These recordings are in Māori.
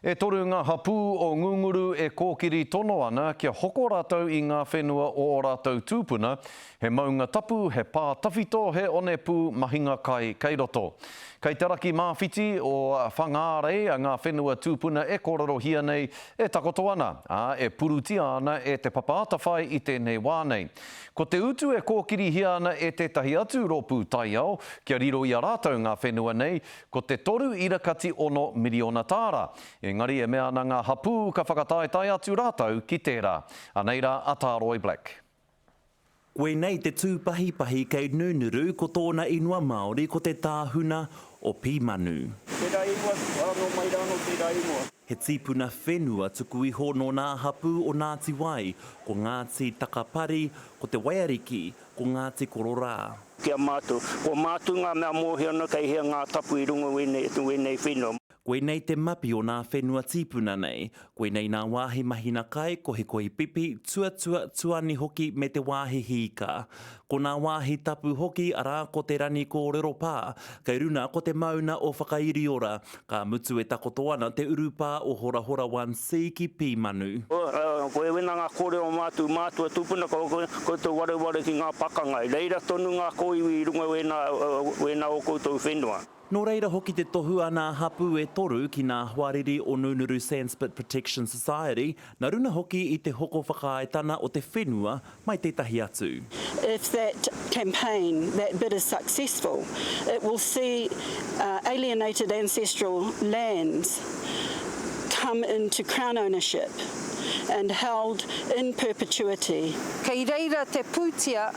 E toru ngā hapū o Ngunguru e kōkiri tono ana kia hoko rātou i ngā whenua o ō rātou tūpuna, he maunga tapu, he pā tawhito, he onepū mahinga kai kei roto. Kei te raki māwhiti o Whangārei ngā whenua tūpuna e kōrerohia nei, e takoto ana, ā, e purutia ana e Te Papa Atawhai i tēnei wā nei. Ko te utu e kōkirihia ana e tētahi atu rōpū taiao kia riro i a rātou ngā whenua nei, Ko te toru ira kati ono miriona tāra. Engari e mea ana ngā hapū ka whakataetae atu rātou ki tērā. Anei rā a Tāroe Black. Koinei te tūpahipahi kei Nunuru ko tōna inua Māori ko te tāhuna o Pīmanu. Tērā ingoa tuku āno mai rā nō tērā ingoa. He tīpuna whenua tuku iho nō nā hapū o Nāti Wai, ko Ngāti Takapari, ko Te Waiariki, Ko ngā te kororā. Ki a mātou. Ko mātou ngā mea mōhio ana kei hea ngā tapu i runga i wēnei whenua. Koinei te mapi o nā whenua tīpuna nei. Koinei nā wāhi mahina kai, kohikohi pipi, tuatua, tuani hoki me te wāhi hīka. Ko nā wāhi tapu hoki arā ko te rani kōrero pā, kei runa ko te mauna o Whakairiora, Ka mutu e takoto ana te urupā o Horahora One C ki Pīmanu. Koe wina ngā kōrero o mātou mātua tūpuna, ko koutou wareware ki ngā pakanga. I reira tonu ngā kōiwi i runga wēnā o koutou whenua. Nō reira hoki te tohu a nā hapū e toru ki nā hoariri o Nunuru Sandspit Protection Society, Na runa hoki i te hoko whakaaetana o te whenua mai tetahi atu. If that campaign, that bid is successful, it will see alienated ancestral lands come into Crown ownership and held in perpetuity. Kei reira te pūtia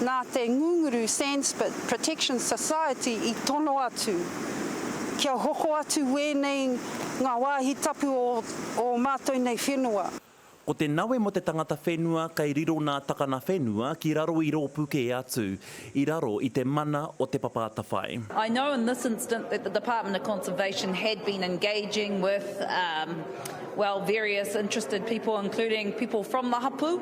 nā te Ngunguru Sandspit Protection Society i tono atu kia hoko atu wēnei ngā wāhi tapu o o o matou nei whenua. Ko te nawe mo te tangata whenua kei riro na takana whenua ki raro i ropu ke atu, i raro i te mana o te papa atawhai. I know in this instance that the Department of Conservation had been engaging with, well, various interested people, including people from the hapu,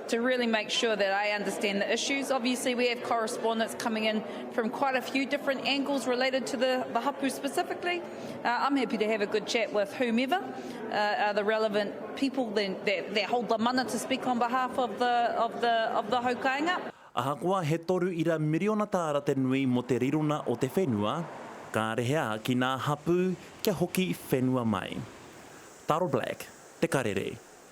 to really make sure that I understand the issues. Obviously, we have correspondence coming in from quite a few different angles related to the, the hapu specifically. Uh, I'm happy to have a good chat with whomever uh, are the relevant people that, that, that, hold the mana to speak on behalf of the, of the, of the haukainga. Ahakoa he toru ira miriona tāra te nui mo te rirona o te whenua, ka rehea ki nā hapū kia hoki whenua mai. Taro Black, Te Karere.